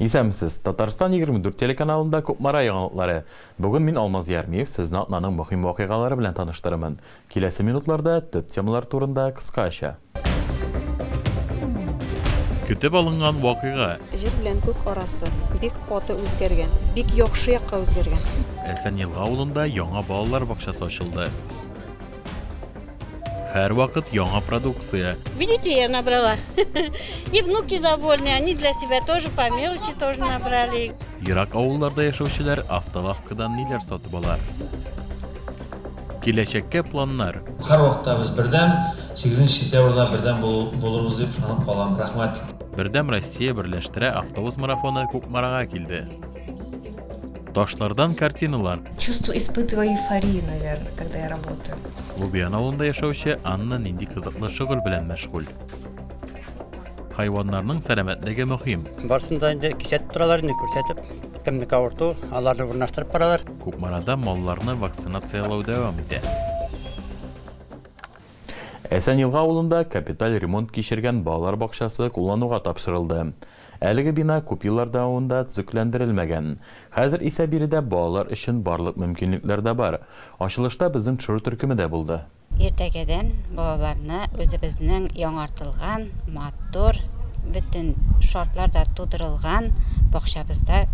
Исәнмесез! Татарстан 24 телеканалында Кукмара яңалыклары. Бүген мин, Алмаз Ярмиев, сезне атнаның мөһим вакыйгалары белән таныштырырмын. Киләсе минутларда төп темалар турында кыскача. Көтеп алынган вакыйга. Җир белән күк арасы бик каты үзгәргән, бик яхшы якка үзгәргән. Әсәнъелга авылында яңа балалар бакчасы ачылды. Һәрвакыт яңа продукция. Видите, я набрала. И внуки довольны, они для себя тоже по мелочи тоже набрали. Ерак авылларда яшәүчеләр автолавкадан ниләр сатып ала? Киләчәккә планнар. Һәрвакытта без бердәм, 8 сентябрьдә бердәм булырбыз дип ышанып калам. Рәхмәт. Бердәм Россия берләштерә автобус марафоны Кукмарага килде. Ташлардан картиналар. Чувство испытываю эйфорию, наверное, когда я работаю. Лубиян авылында яшәүче Анна нинди кызыклы шөгыль белән мәшгуль. Хайваннарның сәламәтлеге мөһим. Барсын да инде кисәтеп торалар инде күрсәтеп. Кемнеке авырту, аларны урнаштырып баралар. Кукмарада малларны вакцинацияләү дәвам итә. Әсән Елга авылында капиталь ремонт кичергән балалар бакчасы куллануга тапшырылды. Әлеге бина күп еллар дәвамында төзекләндерелмәгән. Хәзер исә биредә балалар өчен барлык мөмкинлекләр дә бар. Ачылышта безнең төшерү төркеме дә булды. Иртәгәдән балаларны үзебезнең яңартылган, матур, бөтен шартлар да тудырылган бакчабызда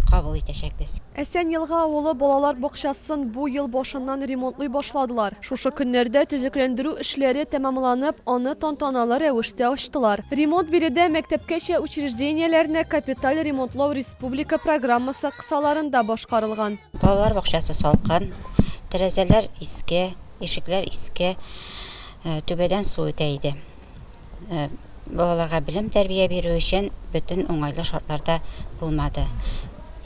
кабул итәчәкбез. Әсән Елга авылы балалар бакчасын бу ел башыннан ремонтлый башладылар. Шушы көннәрдә төзекләндерү эшләре тәмамланып, аны тантаналы рәвештә ачтылар. Ремонт биредә мәктәпкәчә учреждениеләрне капиталь ремонтлау республика программасы кысаларында башкарылган. Балалар бакчасы салкын, тәрәзәләр иске, ишекләр иске, түбәдән су үтә иде. Балаларга белем-тәрбия бирү өчен бөтен уңайлы шартлар да булмады.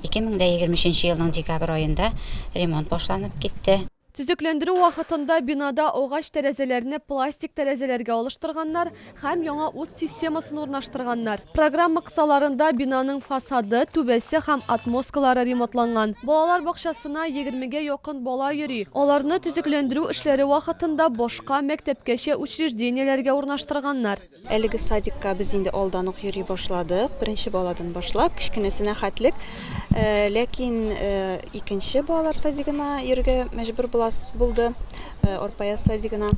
Ике мең дә егерме өченче елның декабрь аенда ремонт башланып китте. Төзекләндерү вакытында бинада агач тәрәзәләрне пластик тәрәзәләргә алыштырганнар һәм яңа ут системасын урнаштырганнар. Программа кысаларында бинаның фасады, түбәсе һәм отмосткалары ремонтланган. Балалар бакчасына егермегә якын бала йөри. Аларны төзекләндерү эшләре вакытында башка, мәктәпкәчә учреждениеләргә урнаштырганнар. Әлеге садикка без инде алдан ук йөри башладык. Беренче баладан башлап, кечкенәсенә хәтлек. Э, ләкин э, икенче балалар садигына йөрергә мәҗбүр булас булды, э, Орпая садигына.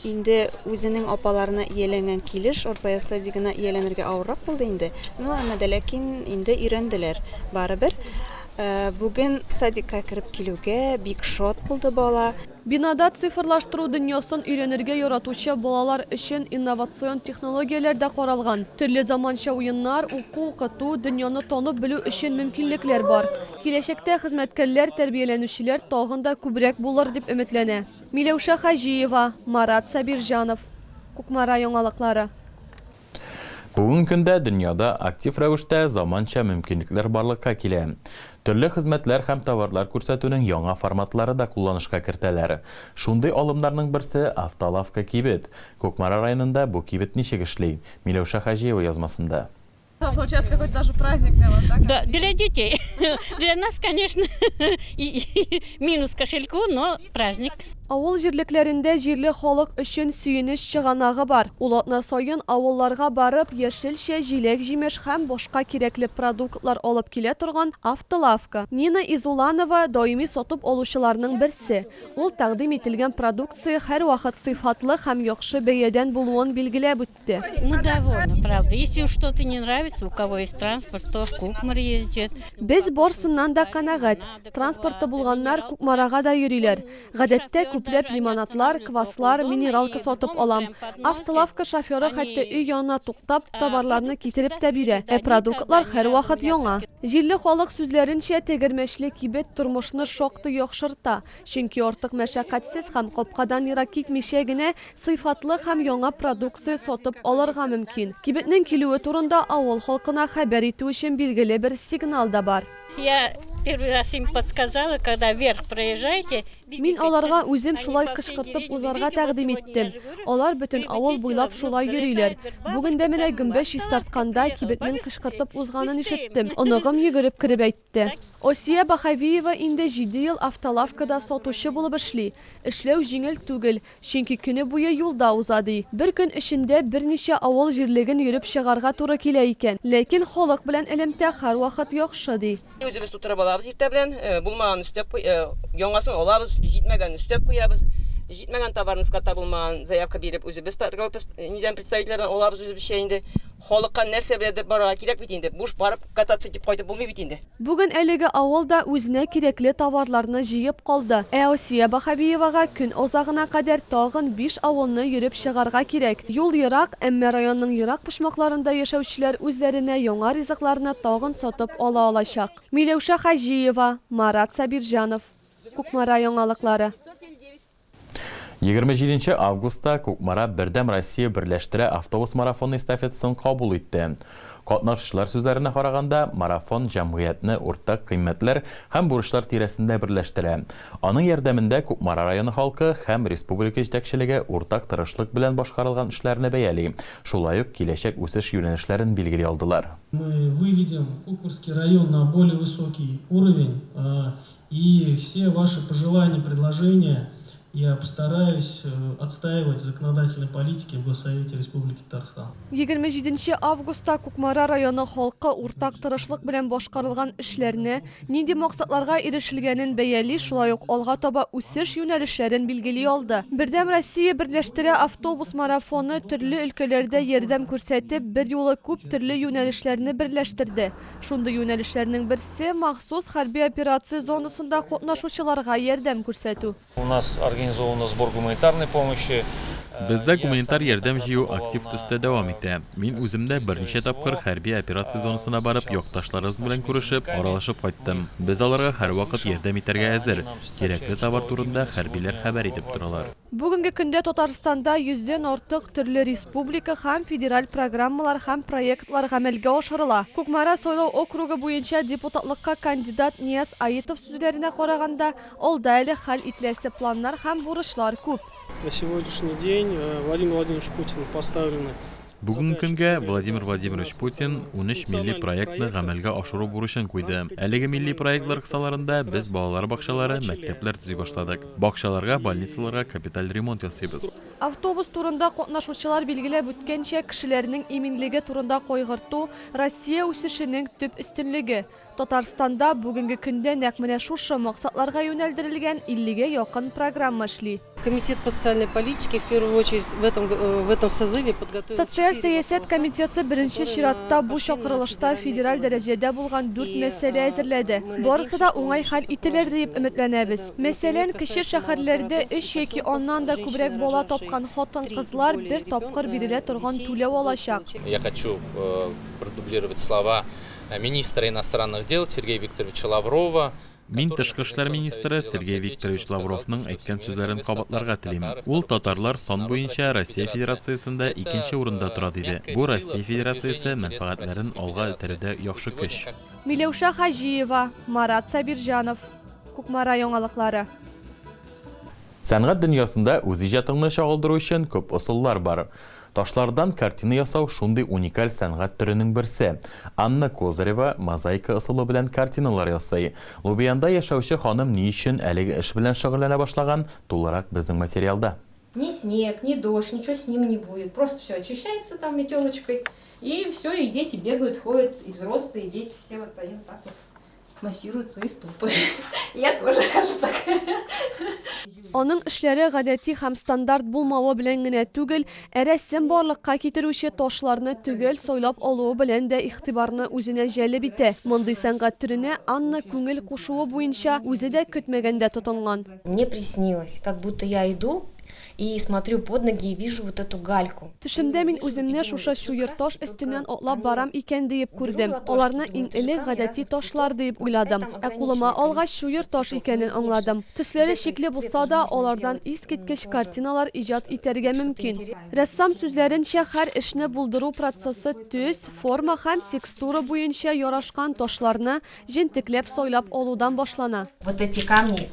Инде үзенең апаларына ияләнгән килеш Орпая садигына ияләнергә авыррак булды инде. Ну, әмма дә ләкин инде өйрәнделәр барыбер. Бүген садикка кереп килүгә бик шат булды бала. Бинада цифрлаштыру дөньясын өйрәнергә яратучы балалар өчен инновацион технологияләр дә каралган. Төрле заманча уеннар, уку-укыту, дөньяны танып белү өчен мөмкинлекләр бар. Киләчәктә хезмәткәрләр, тәрбияләнүчеләр тагын да күбрәк булыр дип өметләнә. Миләүшә Хаҗиева, Марат Сабирҗанов, Кукмара яңалыклары. Бүгенге көндә дөньяда актив рәвештә заманча мөмкинлекләр барлыкка килә. Төрле хезмәтләр һәм товарлар күрсәтүнең яңа форматлары да кулланышка кертәләр. Шундый алымнарның берсе, Автолавка кибет. Кукмара районында бу кибет ничек эшли? Миләүшә Хаҗиева язмасында. Авыл җирлекләрендә җирле халык өчен сөенеч чыганагы бар. Ул атна саен авылларга барып, яшелчә, җиләк-җимеш һәм башка кирәкле продуктлар алып килә торган автолавка. Нина Изуланова, даими сатып алучыларның берсе. Ул тәкъдим ителгән продукция һәрвакыт сыйфатлы һәм яхшы бәядән булуын билгеләп үтте. әйтте. Без барсыннан да канәгать. Транспорты булганнар Кукмарага да йөриләр. Гадәттә күпләп лимонадлар, кваслар, минералка сатып алам. Автолавка шоферы хәтта өй янына туктап, товарларны китереп тә бирә. Ә продуктлар һәрвакыт яңа. Җирле халык сүзләренчә, тегермәчле кибет тормышны шактый яхшырта. Чөнки артык мәшәкатьсез һәм капкадан ерак китмичә генә сыйфатлы һәм яңа продукция сатып алырга мөмкин. Кибетнең килүе турында авыл халкына хәбәр итү өчен билгеле бер сигнал да бар. Я первый раз им подсказала, когда вверх проезжаете, видите, Мин аларга үзем шулай кычкыртып узарга тәкъдим иттем. Алар бөтен авыл буйлап шулай йөриләр. Бүген дә менә гөмбә чистартканда, кибетнең кычкыртып узганын ишеттем. Оныгым йөгереп кереп әйтте. итте. Осия Баһавиева инде җиде ел автолавкада сатучы булып эшли. Эшләү җиңел түгел, чөнки көне буе юлда уза, ди. Бер көн эчендә берничә авыл җирлеген йөреп чыгарга туры килә икән. Ләкин халык белән элемтә һәрвакыт яхшы, ди. Үзебез тутырып алабыз иртә белән, булмаганын өстәп, яңасын алабыз, җитмәгәнен өстәп куябыз. Җитмәгән товарны складта булмаганын заявка биреп, үзебез торговый представительләрдән алабыз үзебезчә инде. Халыкка нәрсә беләдер барырга кирәк бит инде, буш барып, кататься итеп кайтып булмый бит инде. Бүген әлеге авыл да үзенә кирәкле товарларны җыеп калды. Ә Асия Баһабиевага көн азагына кадәр тагын биш авылны йөреп чыгарга кирәк. Юл ерак, әмма районның ерак почмакларында яшәүчеләр үзләренә яңа ризыкларны тагын сатып ала алачак. Миләүшә Хаҗиева, Марат Сабирҗанов, Кукмара яңалыклары. Егерме җиденче августта Кукмара Бердәм Россия берләштерә автобус марафоны эстафетасын кабул итте. Катнашучылар сүзләренә караганда, марафон җәмгыятьне уртак кыйммәтләр һәм бурычлар тирәсендә берләштерә. Аның ярдәмендә Кукмара районы халкы һәм республика җитәкчелеге уртак тырышлык белән башкарылган эшләрне бәяли, шулай ук киләчәк үсеш юнәлешләрен билгели алдылар. Мы выведем Кукмарский район на более высокий уровень, И все ваши пожелания, предложения я постараюсь отстаивать в законодательной политике в Госсовете Республики Татарстан. Егерме җиденче августта Кукмара районы халкы уртак тырышлык белән башкарылган эшләрне, нинди максатларга ирешелгәнен бәяли, шулай ук алга таба үсеш юнәлешләрен билгели алды. Бердәм Россия берләштерә автобус марафоны төрле өлкәләрдә ярдәм күрсәтеп, берьюлы күп төрле юнәлешләрне берләштерде. Шундый юнәлешләрнең берсе, махсус хәрби операция зонасында катнашучыларга ярдәм күрсәтү. У нас организована сбор гуманитарной помощи. Бездә гуманитар ярдәм җыю актив төстә дәвам итә. Мин үзем дә берничә тапкыр хәрби операция зонасына барып, якташларыбыз белән күрешеп, аралашып кайттым. Без аларга һәрвакыт ярдәм итәргә әзер, кирәкле товар турында хәрбиләр хәбәр итеп торалар. Бүгенге көндә Татарстанда йөздән артык төрле республика һәм федераль программалар һәм проектлар гамәлгә ашырыла. Кукмара сайлау округы буенча депутатлыкка кандидат Нияз Аитов сүзләренә караганда, алда әле хәл ителәсе планнар һәм бурычлар күп. На сегодняшний день Владимир Владимирович Путин поставлена. Бүгенге көнгә Владимир Владимирович Путин унөч милли проектны гамәлгә ашыру бурычын куйды. Әлеге милли проектлар кысаларында без балалар бакчалары, мәктәпләр төзи башладык. Бакчаларга, больницаларга капиталь ремонт ясыйбыз. Автобус турында катнашучылар билгеләп үткәнчә, кешеләрнең иминлеге турында кайгырту, Россия үсешенең төп өстенлеге. Татарстанда бүгенге көндә нәкъ менә шушы максатларга юнәлдерелгән 50 гә якын программа эшли. Комитет по социальной политике в первую очередь в этом в этом созыве подготовил четыре вопроса. Социаль сәясәт комитеты беренче чиратта бу чакырылышта федераль дәрәҗәдә булган дүрт мәсьәлә әзерләде. Барысы да уңай хәл ителер диеп өметләнәбез. Мәсәлән, кече шәһәрләрдә өч яки аннан да күбрәк бала тапкан хатын-кызлар бер тапкыр бирелә торган түләү алачак. Я хочу продублировать слова. министра иностранных дел Сергея Викторовича Лаврова, Мин тышкы эшләр министры Сергей Викторович Лавровның әйткән сүзләрен кабатларга телим. Ул татарлар сан буенча Россия Федерациясендә икенче урында тора диде. Бу Россия Федерациясе мәнфәгатьләрен алга этәрүдә яхшы көч. Миләүшә Хаҗиева, Марат Сабирҗанов. Кукмара яңалыклары. Сәнгать дөньясында үз иҗатыңны чагылдыру өчен күп ысуллар бар. Ташлардан картина ясау шундый уникаль сәнгать төренең берсе. Анна Козырева мозаика ысулы белән картиналар ясый. Лубянда яшәүче ханым ни өчен әлеге эш белән шөгыльләнә башлаган, тулырак безнең материалда. Ни снег, ни дождь, ничего с ним не будет, просто всё очищается там метелочкой и всё, и дети бегают, ходят, и взрослые, и дети, все вот они вот так вот. Массирует свои стопы. Я тоже хожу так. Аның эшләре гадәти һәм стандарт булмавы белән генә түгел, ә рәссам барлыкка китерүче ташларны төгәл сайлап алуы белән дә игътибарны үзенә җәлеп итә. Мондый сәнгать төренә Анна күңел кушуы буенча үзе дә көтмәгәндә тотынган. Мне приснилось, как будто я иду И смотрю под ноги и вижу вот эту гальку. Төшемдә мин үземне шушы чуер таш өстеннән атлап барам икән диеп күрдем. Аларны иң элек гадәти ташлар диеп уйладым. Ә кулыма алгач, чуер таш икәнен аңладым. Төсләре шикле булса да, алардан искиткеч картиналар иҗат итәргә мөмкин. Рәссам сүзләренчә, хәр эшне булдыру процессы төс, форма һәм текстура буенча ярашкан ташларны, Җентекләп сайлап алудан башлана. Вот эти камни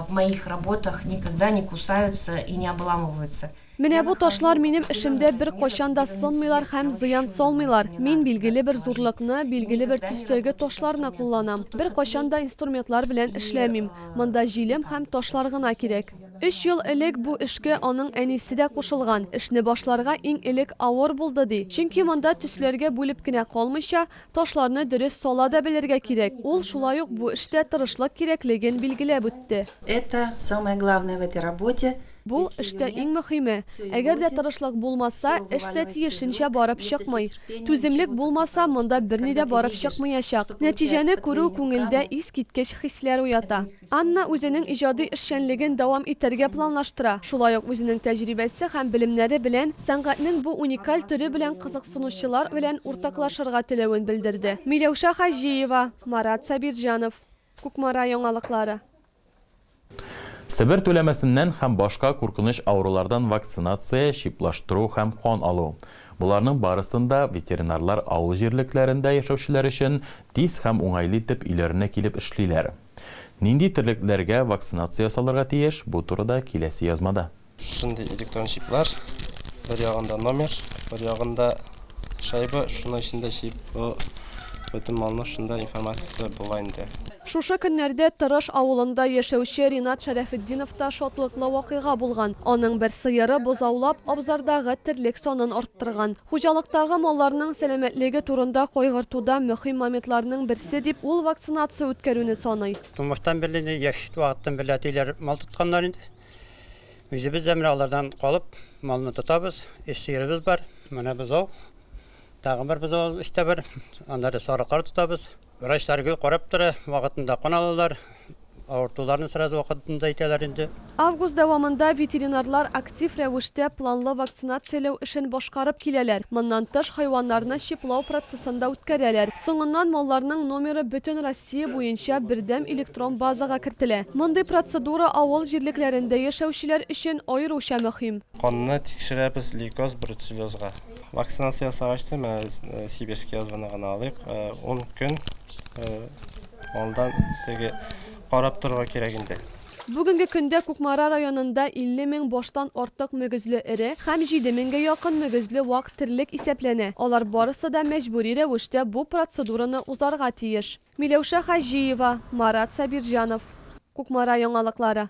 в моих работах никогда не кусаются и не обламываются. Менә бу ташлар минем эшемдә беркайчан да сынмыйлар һәм зыян салмыйлар. Мин билгеле бер зурлыкны, билгеле бер төстәге ташларны кулланам. Беркайчан да инструментлар белән эшләмим. Монда җилем һәм ташлар гына кирәк. Өч ел элек бу эшкә аның әнисе дә кушылган. Эшне башларга иң элек авыр булды, ди. Чөнки монда төсләргә бүлеп кенә калмыйча, Ташларны дөрес сала да белергә кирәк. Ул шулай ук бу эштә тырышлык кирәклеген билгеләп үтте. Это, самое главное в этой работе, Бу, эштә иң мөхиме. Әгәр дә тырышлык булмаса, эш тә тиешенчә барып чыкмый. Түземлек булмаса, монда берни дә барып чыкмыячак. Нәтиҗәне күрү күңелдә искиткеч хисләр уята. Анна үзенең иҗади эшчәнлеген дәвам итәргә планлаштыра, шулай ук үзенең тәҗрибәсе һәм белемнәре белән сәнгатьнең бу уникаль төре белән кызыксынучылар белән уртаклашырга теләвен белдерде. Миләүшә Хаҗиева, Марат Сабирҗанов. Кукмара яңалыклары. Себер түләмәсеннән һәм башка куркыныч авырулардан вакцинация, чиплаштыру һәм кан алу. Боларның барысын да ветеринарлар авыл җирлекләрендә яшәүчеләр өчен тиз һәм уңайлы итеп өйләренә килеп эшлиләр. Нинди терлекләргә вакцинация ясалырга тиеш, бу турыда киләсе язмада. Шундый электрон чиплар, бер ягында номер, бер ягында шайба, шуның эчендә чип, бу бөтен малның шунда информациясе була инде. Шушы көннәрдә Тырыш авылында яшәүче Ринат Шәрәфетдиновта шатлыклы вакыйга булган. Аның бер сыеры бозаулап, абзардагы терлек санын арттырган. Хуҗалыктагы малларның сәламәтлеге турында кайгыртуда мөһим моментларның берсе дип ул вакцинация үткәрүне саный. Тумыштан бирле инде, яшь вакыттан бирле әтиләр мал тотканнар инде. Үзебез дә менә алардан калып, малны тотабыз. Өч сыерыбыз бар, менә бозау, тагын бер бозау өстә бар, аннары сарыклар тотабыз. Врачлар гел карап тора, вакытында кан алалар, авыртуларны сразу вакытында әйтәләр инде. Август дәвамында ветеринарлар актив рәвештә планлы вакцинацияләү эшен башкарып киләләр. Моннан тыш, хайваннарны чиплау процессын да үткәрәләр. Соңыннан малларның номеры бөтен Россия буенча бердәм электрон базага кертелә. Мондый процедура авыл җирлекләрендә яшәүчеләр өчен аеруча мөһим. Канны тикшерәбез лейкоз-бруцеллезга. Вакцинация ясагач та, менә э, Сибирский язваны гына алыйк, 10 э, көн э, алдан теге карап торырга кирәк инде. Бүгенге көндә Кукмара районында 50 мең баштан артык мөгезле эре һәм 7 меңгә якын мөгезле вак терлек исәпләнә. Алар барысы да мәҗбүри рәвештә бу процедураны узарга тиеш. Миләүшә Хаҗиева, Марат Сабирҗанов. Кукмара яңалыклары.